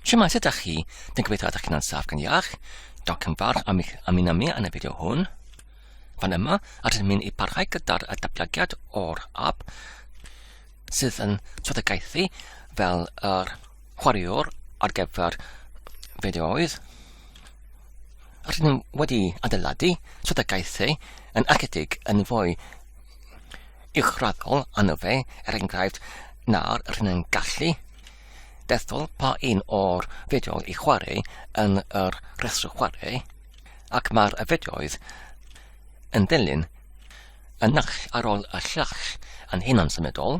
Shwmae, sut ydych chi? Dwi'n gobeithio ydych chi'n ansaf gan iach. Diolch yn fawr am eich ymuno mi yn y fideo hwn. Fan yma, rydym ni'n ei parhau gyda'r datblygiad o'r app sydd yn swyddogaethu fel yr chwaraewr ar gyfer fideoedd. Rydym ni wedi adeiladu swyddogaethu yn ychydig yn fwy uchraddol ano fe, er enghraifft, na'r rhyn yn gallu dethol pa un o'r fideo i chwarae yn yr rhestr chwarae, ac mae'r fideoedd yn dilyn y naill ar ôl y llall yn hunan symudol,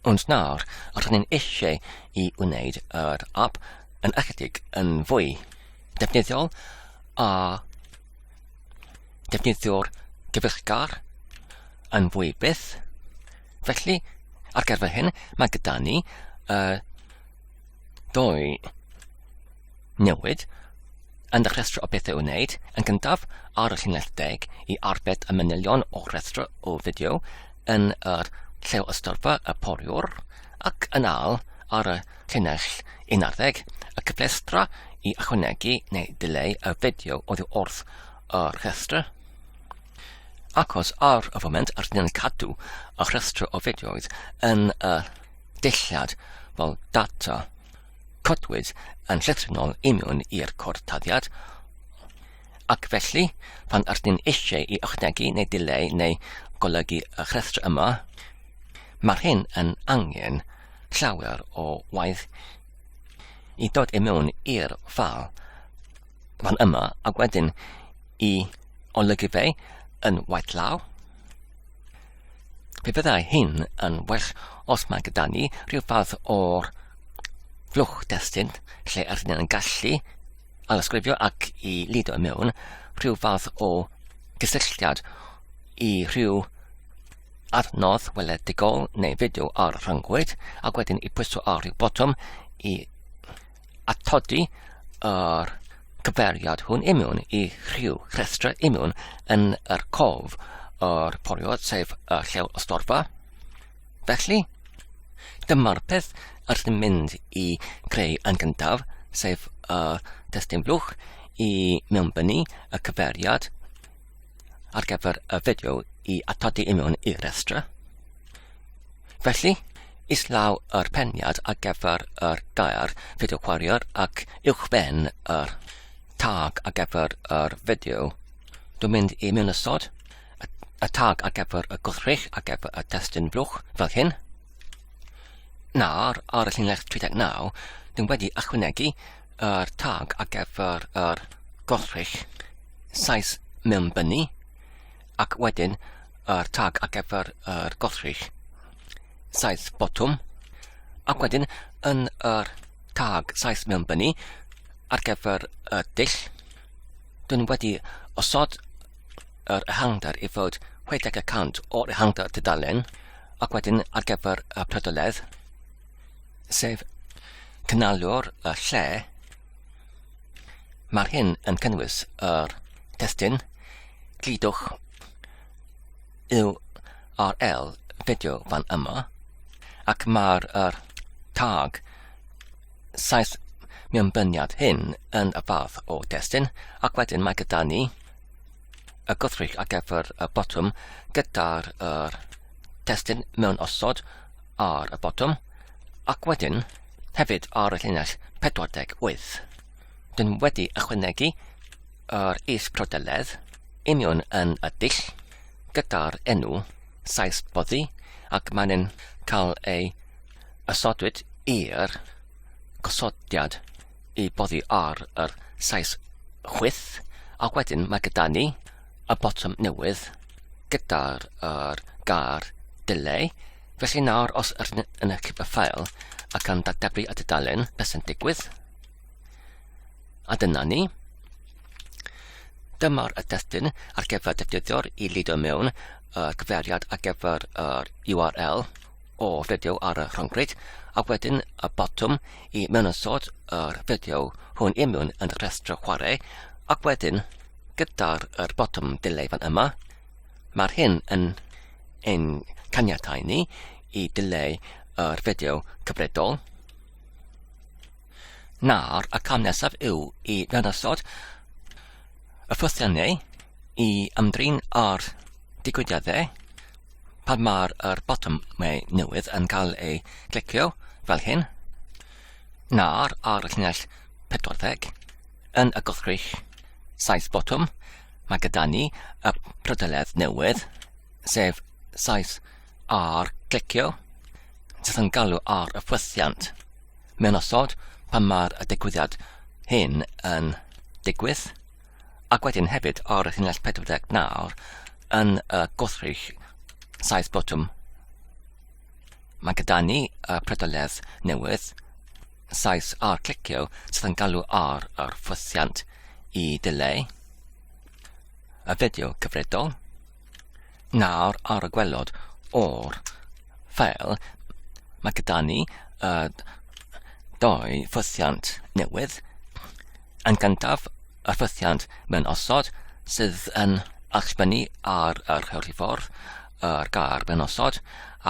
ond nawr rydyn ni'n eisiau i wneud yr app yn ychydig yn fwy defnyddiol a defnyddio'r gyfeillgar yn fwy byth. Felly, ar gyfer hyn, mae gyda ni uh, dwy newid yn y rhestr o bethau wneud yn gyntaf ar y llinell deg i arbed y manylion o rhestr o fideo yn yr llew ystyrfa y poriwr ac yn al ar y Llinell 11, y cyflestra i ychwanegu neu dileu y fideo oddi wrth y rhestr. Achos ar y foment yr ni'n cadw y rhestr o fideoedd yn y dillad fel data, codwyd yn llythrennol imiwn i'r cortaddiad, Ac felly, pan ydyn ni eisiau i ychwanegu neu dileu neu golygu y rhestr yma, mae'r hyn yn angen llawer o waith i dod i mewn i'r ffal fan yma ac wedyn i olygu fe yn waith law. Fe fyddai hyn yn well os mae gyda ni rhyw fath o'r flwch destun lle ydyn ni'n gallu alysgrifio ac i lido i mewn rhyw fath o gysylltiad i rhyw adnodd weledigol neu fideo ar rhyngwyd ac wedyn i pwyso ar rhyw botwm i atodi yr cyfeiriad hwn i mewn i rhyw rhestra i mewn yn yr cof yr poliod sef y llew o storfa Felly, dyma'r peth yr sy'n mynd i greu yn gyntaf, sef y testun blwch i mewnbynnu y cyfeiriad ar gyfer y fideo i atodi i mewn i'r rhestra. Felly, islaw yr peniad ar gyfer yr gair fideo chwaraeor ac uwchben yr tag ar gyfer yr fideo. Dwi'n mynd i mewn ysod y tag ar gyfer y gwrthrych ar gyfer y testun blwch fel hyn. Nawr, ar y llinell 39, dwi'n wedi ychwanegu yr tag ar gyfer yr gwrthrych saes mewn bynu ac wedyn yr tag ar gyfer yr gwrthrych saes botwm ac wedyn yn yr tag saes mewn bynu ar gyfer y dull Dyn wedi osod yr ehangder i fod 60 y cant o'r ehangder tudalen ac wedyn ar gyfer y prydoledd, sef cynaliwr y lle, mae'r hyn yn cynnwys yr testyn, glidwch, URL fideo fan yma, ac mae'r er, tag saith mewnbyniad hyn yn y fath o destun ac wedyn mae gyda ni y gwrthrych ar gyfer y botwm gyda'r er testun mewn osod ar y botwm ac wedyn hefyd ar y llinell 48. Dyn wedi ychwanegu yr is prodeledd union yn y dull gyda'r enw saes boddi ac mae'n cael ei Ysodwyd i'r gosodiad i boddi ar yr saith chwith, ac wedyn mae gyda ni y botwm newydd gyda'r er gair delay. Felly nawr os yr yn y cypa ffael ac yn dateblu y dudalen, beth sy'n digwydd? A dyna ni. Dyma'r y destun ar gyfer defnyddio'r i lido mewn y cyfeiriad ar gyfer yr URL o fideo ar y rhyngrwyd a wedyn y botwm i mewnysod yr fideo hwn i mewn yn y rhestr chwarae ac wedyn gyda'r yr botwm delay fan yma mae'r hyn yn ein caniatau ni i delay yr fideo cyfredol na'r y cam nesaf yw i mewnysod y ffythiannau i ymdrin â'r digwyddiadau pan mae'r er botwm neu newydd yn cael ei glicio fel hyn, na'r ar y llinell 40 yn y gwrthrych saith botwm, mae gyda ni y prydeledd newydd, sef saith ar glicio, sydd yn galw ar y ffwythiant mewn osod pan mae'r digwyddiad hyn yn digwydd. ac wedyn hefyd ar y llinell 40 nawr yn y gwrthrych saith botwm. Mae gyda ni y predoledd newydd, saith ar clicio sydd yn galw ar yr ffwythiant i dileu y fideo cyfredol. Nawr ar y gwelod o'r ffeil mae gyda ni y doi ffythiant newydd. Yn gyntaf y ffythiant mewn osod sydd yn allbynnu ar y rheoliffordd yr gair mewn osod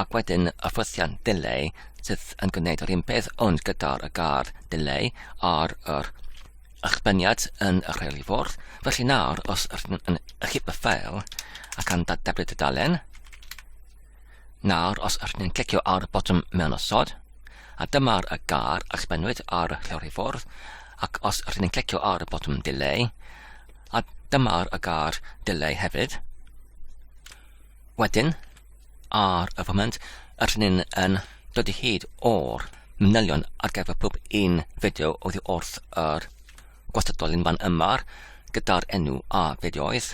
ac wedyn y ffythiant delay sydd yn gwneud yr un peth ond gyda'r y gair delay ar yr eich byniad yn y rheol i fwrdd. Felly nawr, os ydych yn ychyp y ffael ac am dadeblu dudalen, nawr os ydych yn clicio ar y botwm mewn osod, a dyma'r y gar a sbennwyd ar y rheol i fwrdd, ac os ydych yn clicio ar y botwm delay, a dyma'r y gar delay hefyd. Wedyn, ar y foment, yr hynny'n yn dod i hyd o'r manylion ar gyfer pob un fideo oddi wrth yr gwastadol yn fan yma'r gyda'r enw a fideoedd.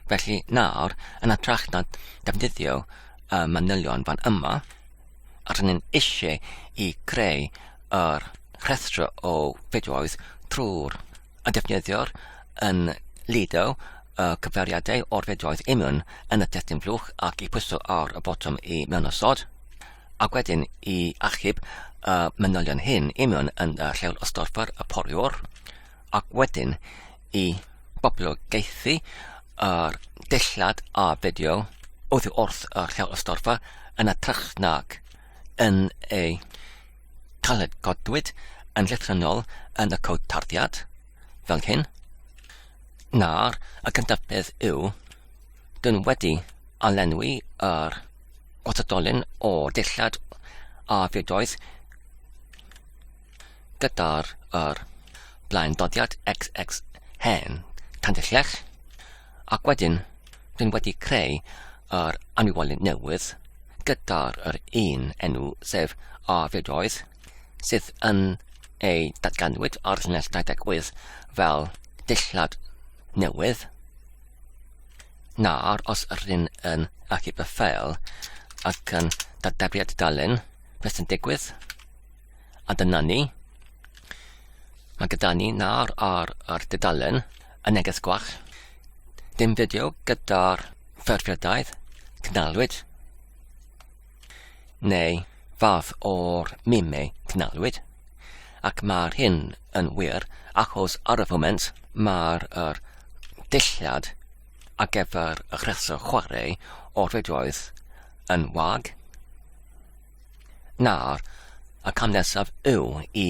Felly nawr, yn atrach na defnyddio y manylion fan yma, a rydyn eisiau i creu yr rhestr o fideoedd trwy'r a defnyddiwr yn lido y cyfeiriadau o'r fideoedd imiwn yn y testun flwch ac i pwyso ar y botwm i mewnosod, ac wedyn i achub y manylion hyn imiwn yn y lleol ystorffwr y poriwr, ac wedyn i boblogaethu yr dillad a fideo oddi wrth y lleol ystorfa yn y trach nag yn ei Caled godwyd yn llythrennol yn y cod tarddiad, fel hyn. Na'r y gyntaf peth yw, dyn wedi a lenwi yr gwrthdolyn o dillad a fiodoedd gyda'r yr blaen doddiad xx hen tandyllech Ac wedyn, rydyn wedi creu yr anifolion newydd gyda'r yr un enw sef Arfedoedd sydd yn ei datganwyd ar llinell 28 fel dillad newydd nawr os rydyn yn achub y ffeil ac yn dadeblu at y dalen beth sy'n digwydd a dyna ni mae gyda ni nawr ar yr dudalen y neges gwach. Dim fideo gyda'r ffurfiadaeth cnalwyd. Neu fath o'r mimau cnalwyd. Ac mae'r hyn yn wir achos ar y foment mae'r er dillad ar gyfer y rheswm chwarae o'r redoedd yn wag. Nawr, y cam nesaf yw i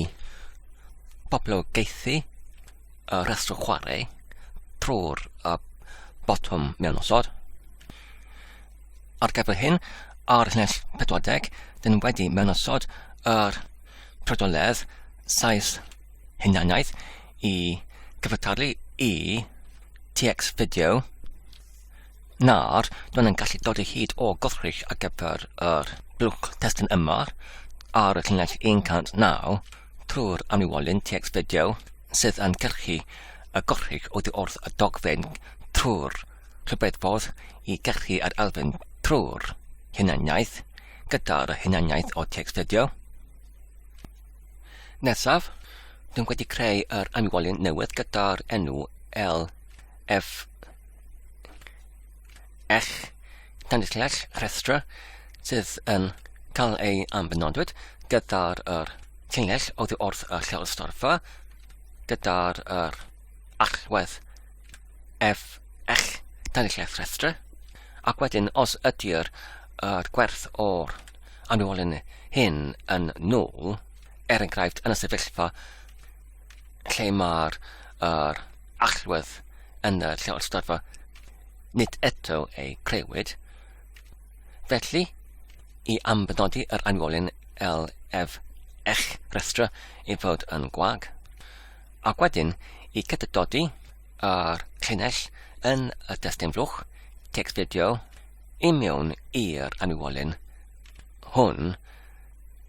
boblogaethu y rhestr chwarae trwy'r uh, botwm mewn osod. Ar gyfer hyn, ar lles 40, dyn wedi mewn osod yr prodoledd saes hunaniaeth i gyfartalu i TX fideo nawr, dwn yn gallu dod o hyd o gollric ar gyfer yr blwch testun yma ar y llinell 109 trwy'r amlywolyn TX Video sydd yn cyrchu y gollric oddi wrth y dogfen trwy'r rhybedffordd i gyrchu yr elfen trwy'r hunaniaeth gyda'r hunaniaeth o TX Video. Nesaf, dwi'n wedi creu yr amlywolyn newydd gyda'r enw LF eich cynulliad rhestr sydd yn cael ei ambenodwyd gyda'r er, llinell oddi wrth y lleolstorfa gyda'r er, allwedd ef eich cynulliad rhestr ac wedyn os ydy'r er, gwerth o'r anwylyn hyn yn nôl, er enghraifft yn y sefyllfa lle mae'r er, allwedd yn y lleolstadfa nid eto ei crewyd. Felly, i ambynodi yr anwolyn LF eich rhestra i fod yn gwag, ac wedyn i cydydodi yr llinell yn y destun flwch text fideo i mewn i'r anwolyn hwn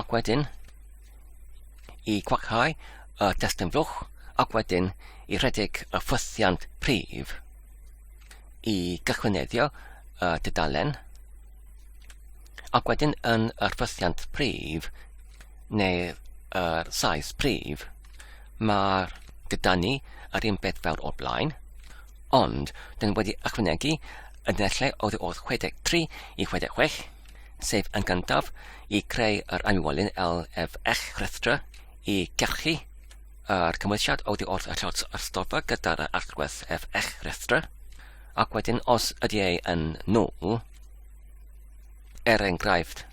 ac wedyn i gwacáu y testun flwch ac wedyn i rhedeg y ffwythiant prif i gychwyneddio y dudalen ac wedyn yn yr ffwythiant prif neu yr size prif mae'r gyda ni yr un beth fel o'r blaen ond dyn wedi ychwanegu y nesle oddi wrth 63 i 66 sef yn gyntaf i creu yr anwylyn LFX rhestra i gyrchu yr cymwysiad oddi wrth y llot ystoffa gyda'r allwedd FX rhestra, ac wedyn os ydy ei yn nôl, er enghraifft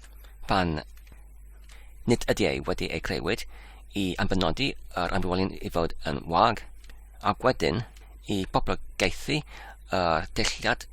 pan nid ydy ei wedi ei creuwyd i anfynodi yr anwylyn i fod yn wag, ac wedyn i boblogaethu yr deilliad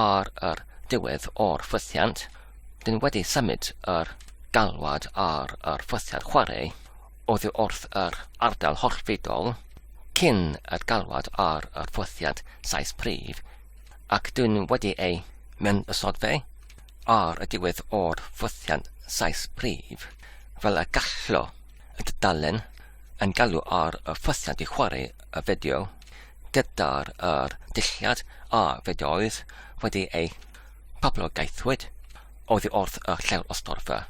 ar yr diwedd o'r ffwythiant, dyn wedi symud yr galwad ar yr ffwythiant chwarae oddi wrth yr ardal hollfidol cyn yr galwad ar yr ffwythiant saes prif, ac dyn wedi ei mewn ysodfe ar y diwedd o'r ffwythiant saes prif, fel y gallo y dudalen yn galw ar y ffwythiant i chwarae y fideo. gyda'r yr dulliad a fedeoedd wedi eu poblogaethwyd oddi wrth y lleol ystorfa.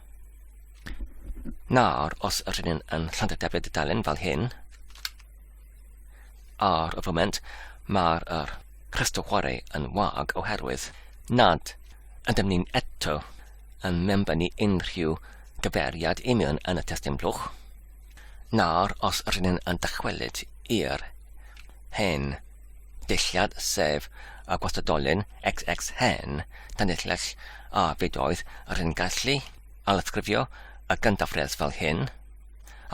Nawr, os yr hyn yn Llandadefyd y dalen fel hyn, ar y foment mae'r yr rhestr chwarae yn wag oherwydd nad ydym ni'n eto yn ni unrhyw gyfeiriad union yn y testyn blwch. Nawr os ry'n yn dychwelyd i'r hen ddulliad sef y gwastadolyn xx hen danylles a fyd oedd ry'n gallu ailysgrifio y gyndafredd fel hyn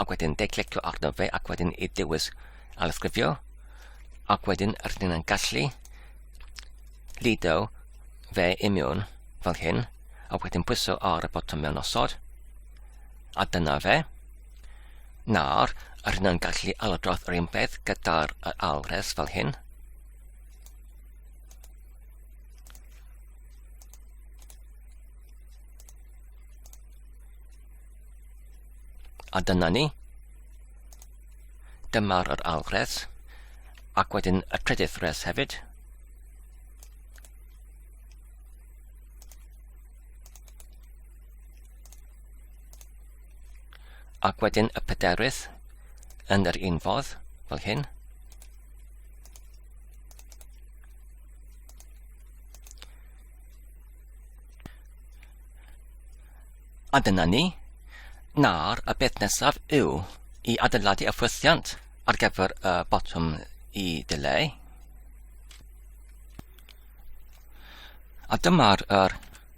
ac wedyn declicio arno fe ac wedyn i dewis ailysgrifio ac wedyn ry'n yn gallu lido fe imiwn fel hyn a wedyn pwyso ar y botwm mewn osod A dyna fe. Nawr, yr hynna'n gallu alodrodd yr un peth gyda'r yr alres fel hyn. A dyna ni. Dyma'r yr alwres, ac wedyn y trydydd res hefyd. Ac wedyn y pedarydd yn yr un fodd, fel hyn. A dyna ni. Nawr, y beth nesaf yw i adeiladu y ffwythiant ar gyfer y botwm i dileu. A dyma'r er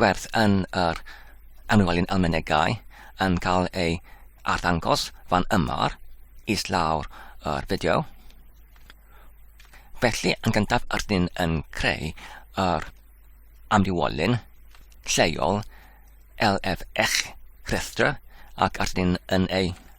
gwerth yn yr anwelyn almenegau yn cael ei arddangos fan yma is lawr yr fideo. Felly yn gyntaf ydyn ni'n yn creu yr amrywolyn lleol LFX rhestr ac ydyn ni'n yn ei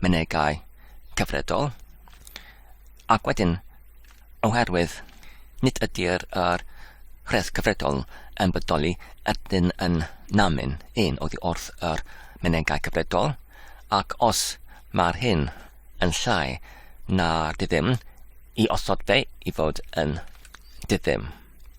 mynegai cyfredol, ac wedyn, oherwydd nid ydy'r yr rheth cyfredol yn bodoli ydyn yn namin un oddi wrth yr mynegai cyfredol, ac os mae'r hyn yn llai na'r diddim, i osod fe i fod yn diddim.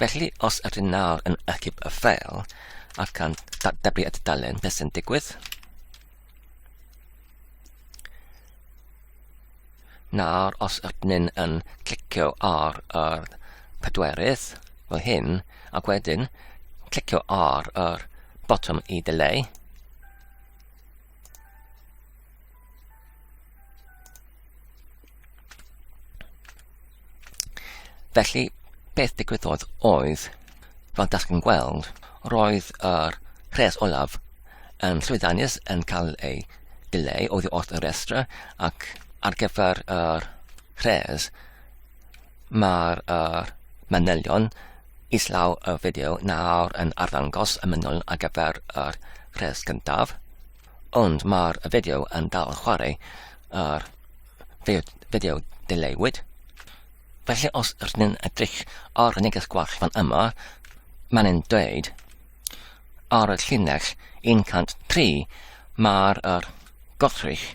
Felly, os ydyn nawr yn ychyb y ffeil ac yn dyblu y dudalen, beth sy'n digwydd? Nawr, os ydyn yn clicio ar yr pedwerydd fel hyn, ac wedyn clicio ar yr botwm i delay, Felly, beth digwyddodd oedd, fel da chi'n gweld, roedd yr rhes olaf yn llwyddiannus yn cael ei dileu oedd wrth y restra ac ar gyfer yr rhes mae'r er, manylion Islaw y fideo nawr yn arddangos y mynol ar gyfer yr rhes gyntaf, ond mae'r fideo yn dal yn chwarae yr fideo dileuwyd. Felly os ydyn ni'n edrych ar y neges gwach fan yma, mae'n yn dweud ar y llinell 103 mae'r er gothrych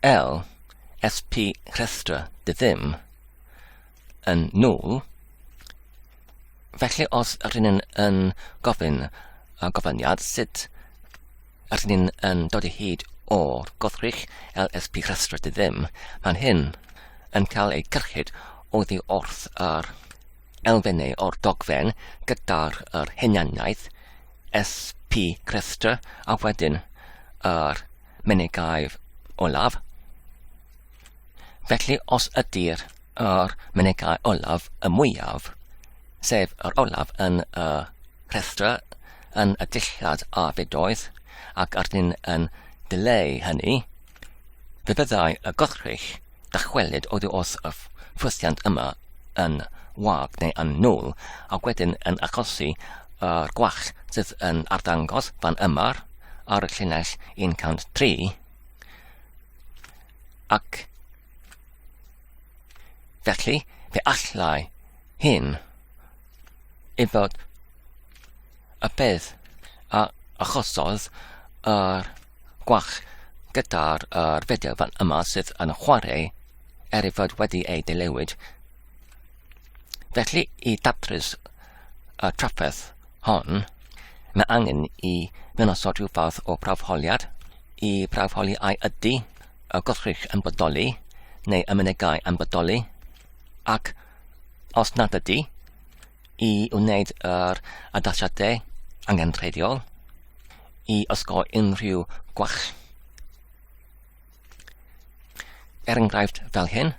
L SP rhestra dy ddim. yn nôl. Felly os rydyn ni'n yn gofyn y gofyniad sut rydyn ni'n yn dod i hyd o'r goddrych LSP rhestr dy ddim, mae'n hyn yn cael ei gyrchyd oddi wrth yr elfennau o'r dogfen gyda'r yr henianiaeth SP rhestr a wedyn yr menegaif olaf Felly os ydy'r yr mynegai olaf y mwyaf, sef yr olaf yn y rhestra yn y dillad a fedoedd ac arnyn yn dileu hynny, fe fyddai y gothrych dychwelyd oddi wrth y ffwythiant yma yn wag neu yn nwl a wedyn yn achosi yr gwallt sydd yn arddangos fan yma'r ar y llinell 103 Ac felly, fe allai hyn ei fod y peth a achosodd yr gwach gyda'r er fideo fan yma sydd yn chwarae er ei fod wedi ei dilewyd. Felly i datrys y trafferth hon, mae angen i mewn osod rhyw fath o brawfholiad i brawfholi ai ydy y gwrthrych yn bodoli neu y mynegai yn bodoli, ac os nad ydy, i wneud yr addasiadau angenrheidiol i osgoi unrhyw gwall. Er enghraifft fel hyn,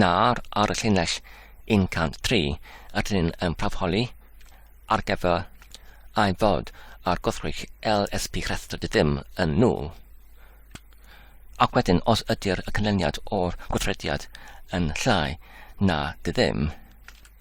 nawr ar y llinell 103 ydyn ni'n yn prafholi ar gyfer ei fod ar gwrthrych LSP rhestr dy ddim yn nhw. Ac wedyn os ydy'r y canlyniad o'r gwrthrediad yn llai na dy ddim,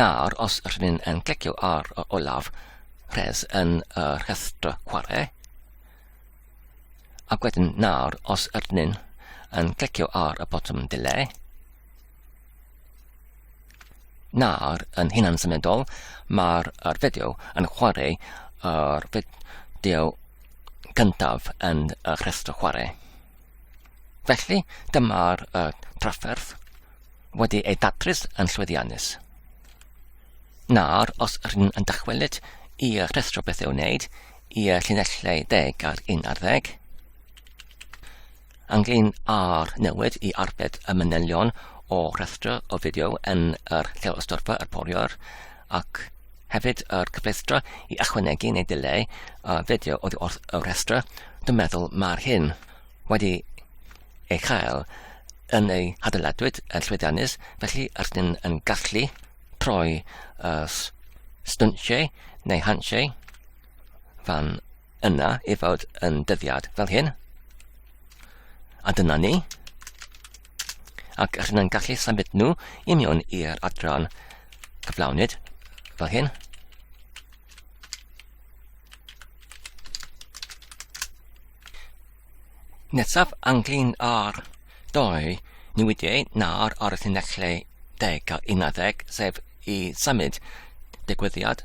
Nawr os rydyn yn clicio ar y olaf rhes yn y rhestr chwarae, ac wedyn nawr os rydyn yn clicio ar y botwm delay, nawr yn hunan symudol mae'r fideo yn chwarae yr fideo gyntaf yn y rhestr chwarae. Felly, dyma'r y trafferth wedi ei datrys yn llwyddiannus. Nawr, os rydyn yn dychwelyd i rhestro beth i'w wneud i y llinellau deg ar un ar ddeg, ynglyn â'r newid i arbed y manylion o rhestro o fideo yn yr lleol ystorfa yr poriwr ac Hefyd yr cyfleustra i ychwanegu neu dileu y fideo oddi wrth y rhestra, dwi'n meddwl mae'r hyn wedi ei chael yn ei hadeiladwyd yn llwyddiannus, felly yr dyn yn gallu troi y stwntiau neu hansiau fan Yna i fod yn dyddiad fel hyn. A dyna ni. Ac ych chi'n gallu symud nhw i mewn i'r adran cyflawnyd fel hyn. Nesaf anglyn ar doi newidiau nawr ar y llinellau deg a unarddeg, sef i symud digwyddiad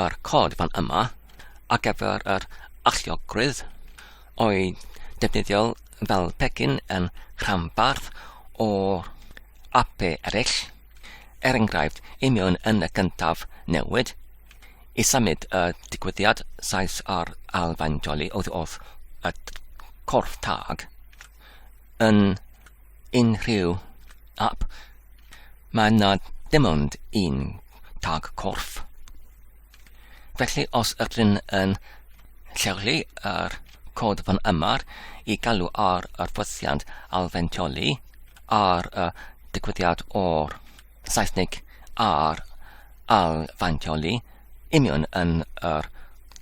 Yr cod fan yma ar gyfer yr alluogrwydd oedd defnyddiol fel pecyn yn rhanbarth o ape eraill, er enghraifft i mewn yn y gyntaf newid, i symud y digwyddiad saes ar alfain joli oedd wrth y corff tag yn unrhyw ap, mae na dim ond un tag corff. Felly os ydyn yn lleoli yr cod fan yma i galw ar yr ffosiant alfentioli ar y digwyddiad o'r Saesnig ar alfentioli union yn yr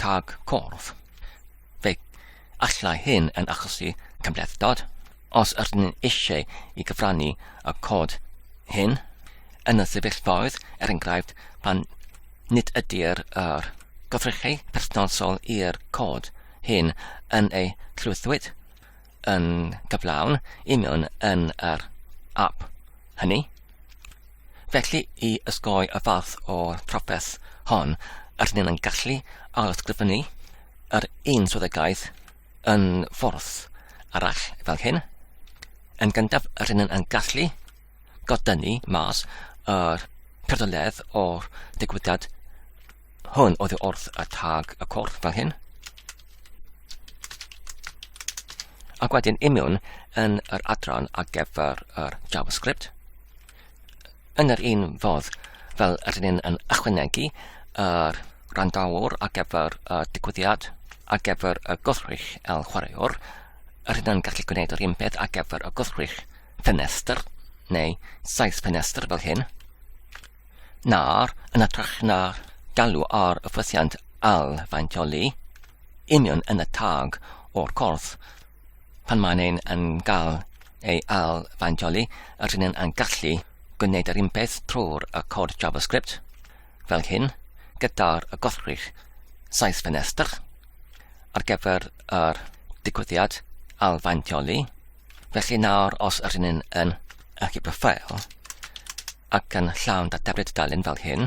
tag corff. Fe Allai hyn yn achosi cymhlethdod. Os ydyn ni eisiau i gyfrannu y cod hyn yn y sefyllfaoedd, er enghraifft, pan nid ydy'r yr gyfrychau perthnasol i'r cod hyn yn ei llwythwyd yn gyflawn i mewn yn yr ap hynny. Felly, i ysgoi y fath o trafferth hon, ydyn ni'n gallu ailysgrifennu yr un swyddogaeth yn ffordd arall fel hyn. Yn gyntaf, rydyn yn yn gallu godynnu mas yr pertoledd o'r digwyddiad hwn oedd wrth y tag y corff fel hyn. Ac wedyn imiwn yn yr adran ar gyfer yr JavaScript. Yn yr un fodd, fel yr ni'n yn ychwanegu yr randawr ar gyfer y digwyddiad ar gyfer y gwrthrych el chwaraewr, yr hyn yn gallu gwneud yr un peth ar gyfer y gwrthrych ffenestr, neu saith ffenestr fel hyn, na'r yn ytrach na galw ar y ffysiant al faintioli, union yn y tag o'r corff. Pan mae'n ein yn cael ei al faintioli, yr hyn yn gallu gwneud yr unpeth trwy'r y cod JavaScript, fel hyn, gyda'r y gothrych saith ffenestr, ar gyfer yr digwyddiad al faintioli. Felly nawr os yr hyn yn y cyber ffael ac yn llawn dateblydd dalun fel hyn,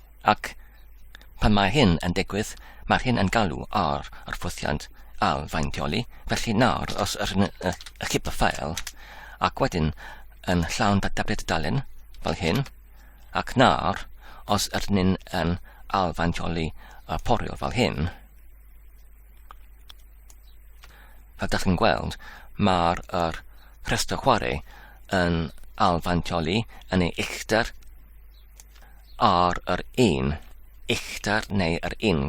Ac pan mae hyn yn digwydd, mae hyn yn galw ar yr ffwythiant ail-faintioli, felly nawr os rydyn yn ychyp y ffael, ac wedyn yn llawn data'r dudalen, fel hyn, ac nawr os rydyn yn yn ail-faintioli y fforil fel hyn, fel da chi'n gweld, mae'r rhestr chwarae yn ail-faintioli yn ei uchder, ar yr un uchder neu yr un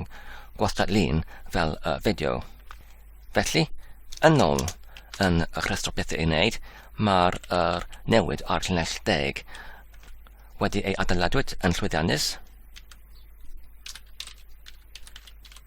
gwastad-lun fel y fideo. Felly, yn ôl yn y rhestr bethau i wneud, mae'r er newid ar llinell deg wedi ei adeiladwyd yn llwyddiannus.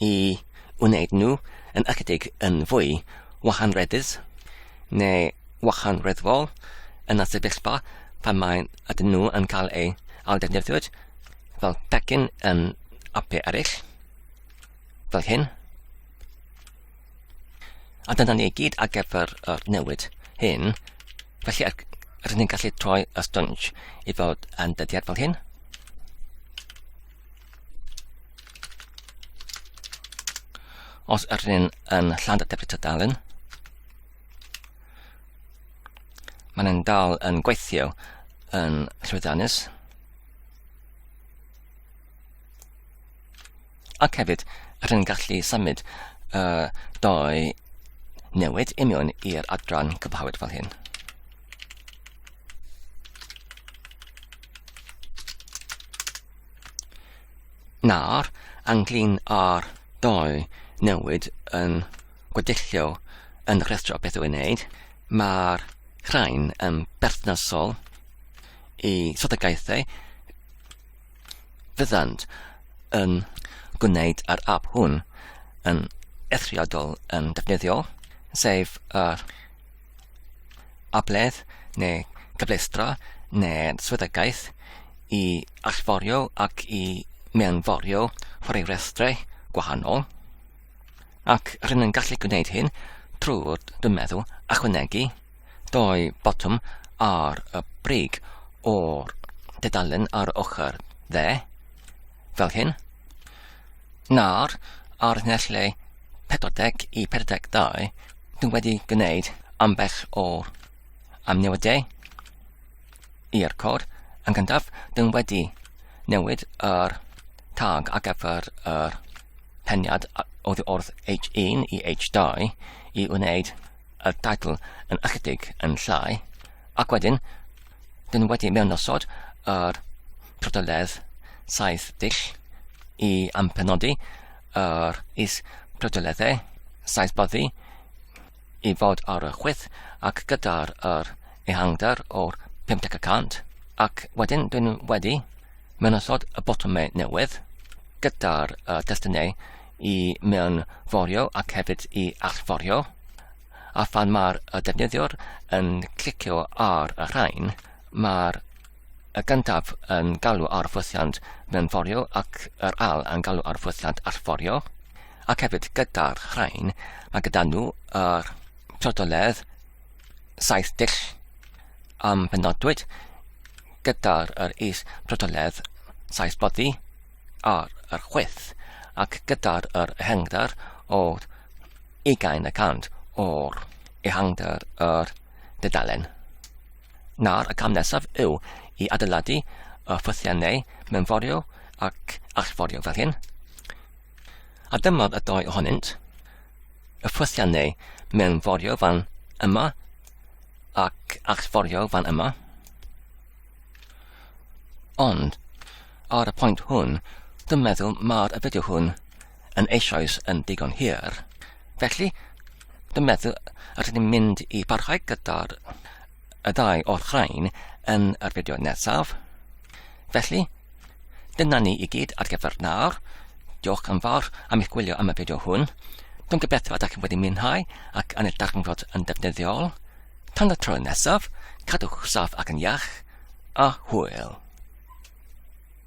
i wneud nhw yn ychydig yn fwy wahanreddus neu wahanreddfol yn y sefyllfa pan mae ydyn nhw yn cael eu ailddefnyddio fel pecyn yn apau eraill, fel hyn. A dyna ni i gyd ar gyfer yr newid hyn. Felly er, rydyn ni'n gallu troi y sponge i fod yn dyddiad fel hyn. Os ydyn ni'n yn Llandderbyn Tydalen, mae'n yn dal yn gweithio yn llwyddiannus. Ac hefyd, rydyn ni'n gallu symud uh, doi newid i mewn i'r adran cyfhawyd fel hyn. Nawr, ynglŷn â'r dau newid yn gweddilliol yn y rhestr o beth i'w wneud, mae'r rhain yn berthnasol i strategaethau fyddant yn gwneud yr app hwn yn eithriadol yn defnyddiol, sef yr abledd neu gyfleustra neu swyddogaeth i allforio ac i mewnforio rhai restrau gwahanol, ac rydyn yn gallu gwneud hyn trwy'r dwi'n meddwl achwanegu doi botwm ar y brig o'r dudalen ar ochr dde, fel hyn, nawr, ar nesle 40 i 42, dwi wedi gwneud ambell o amnewydau i'r cod. Yn gyntaf, dwi wedi newid yr tag ar gyfer yr peniad oddi wrth H1 i H2 i wneud y teitl yn ychydig yn llai, ac wedyn Dyn nhw wedi mewnosod yr prydoledd saith dull i ampenodi yr is prydoleddau saith boddi i fod ar y chwyth ac gyda'r yr ehangder o'r 50 y cant ac wedyn dyn nhw wedi mewnosod y botymau newydd gyda'r uh, destunau i mewn forio ac hefyd i allforio A phan mae'r defnyddiwr yn clicio ar y rhain, mae'r y gyntaf yn galw ar ffwythiant mewnforio ac yr al yn galw ar ffwythiant allforio, ac hefyd gyda'r rhain, mae gyda nhw yr trodoledd saith dull am benodwyd gyda'r yr is protoledd saith boddi ar yr chwyth ac gyda'r yr hengdar o ugain y cant o'r ehangder yr dudalen. Nawr y cam nesaf yw i adeiladu y ffythiau neu mewnforio ac allforio fel hyn. A dyma'r y dau ohonynt, y ffythiau neu mewnforio fan yma ac allforio fan yma. Ond, ar y pwynt hwn, dwi'n meddwl mae'r y fideo hwn yn eisoes yn digon hir. Felly, dwi'n meddwl, a rydyn ni'n mynd i barhau gyda'r y ddau o'r rhain yn yr fideo nesaf. Felly, dyna ni i gyd ar gyfer nawr. Diolch yn fawr am eich gwylio am y fideo hwn. Dwi'n gobeithio ydych chi'n wedi mwynhau ac yn y darganfod yn defnyddiol. Tan y tro nesaf, cadwch saf ac yn iach, a hwyl.